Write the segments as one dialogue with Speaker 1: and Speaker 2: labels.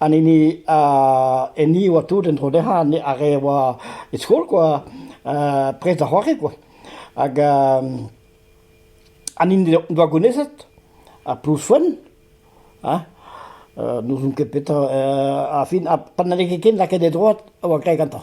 Speaker 1: An hini a- enni e oa tout en-dro dezhañ ar re a oa e skol kwa, prest da c'hoari kwa. Hag an hini en doa gounezet, ar Plouz-Foenn hein, n'ouzon ket petra, ar fin, pa n'halle ket ken lakaet e droad, a oa graet gantañ.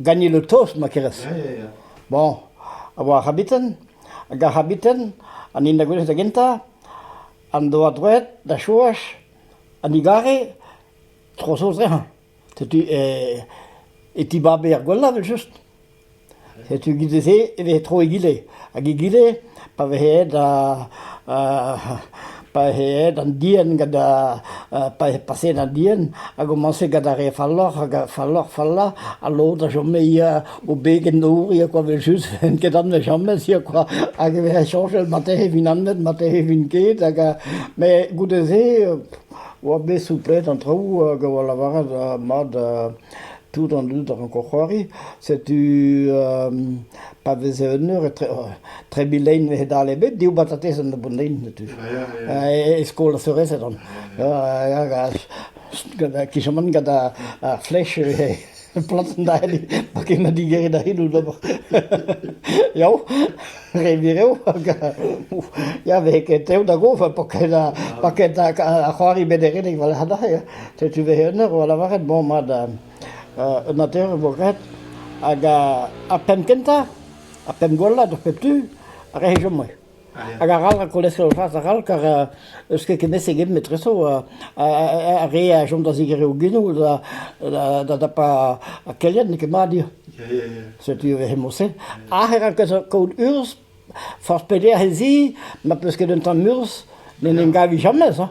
Speaker 1: Ganin ho tost ma kerez. Bon, a oa ar c'habiten, hag ar c'habiten, an hini da gwelet da gentañ, en doa droed da chomaj an egare tro saoz dezhañ. Setu e e tibabe er gwella evel-just. Setu 'giz se e vez tro egile. Hag egile, pa vez aet pa vez aet an dienn gant pa vez paseet an dienn, a gomañse gant ar re falloc'h hag ar falloc'h-fallañ ha lod a chome o beg en nor ya kwa evel-just, n'int ket anvet james ya kwa hag e vez soñjal matin e vint anvet, matin e vint ket hag met goude-se oa bet souplet an traoù hag a oa lavaret mat Tout an dud a ranko c'hoari. Setu pa veze un eur etre trebit lein e-dal ebet, div batatez an nebot lein setu. E skol ar seurezed on. Gant kisamant gant ar flech planten da hini, pa ken na digeri da hini d'ober. Yao! Revir eo hag ya vez ket tev da gof pa ket pa ket ar c'hoari bederenek war lec'h neuze setu vez un eur o lavaret bon mat un ater e vo graet hag ar penn kentañ ar penn gwellañ d'ar pep tu a rae chomway hag arall ar kolesterol fas arall kar eus ket ket ket metreso ar re a chom da zigerer o genou da da dapa ar kelenn n'eo ket mat eo Setu ivez he moused. Ac'h eran kaout urzh. Forzh pelec'h ez i, ma peus ket un tamm urzh, n'en em gavi james. Hein.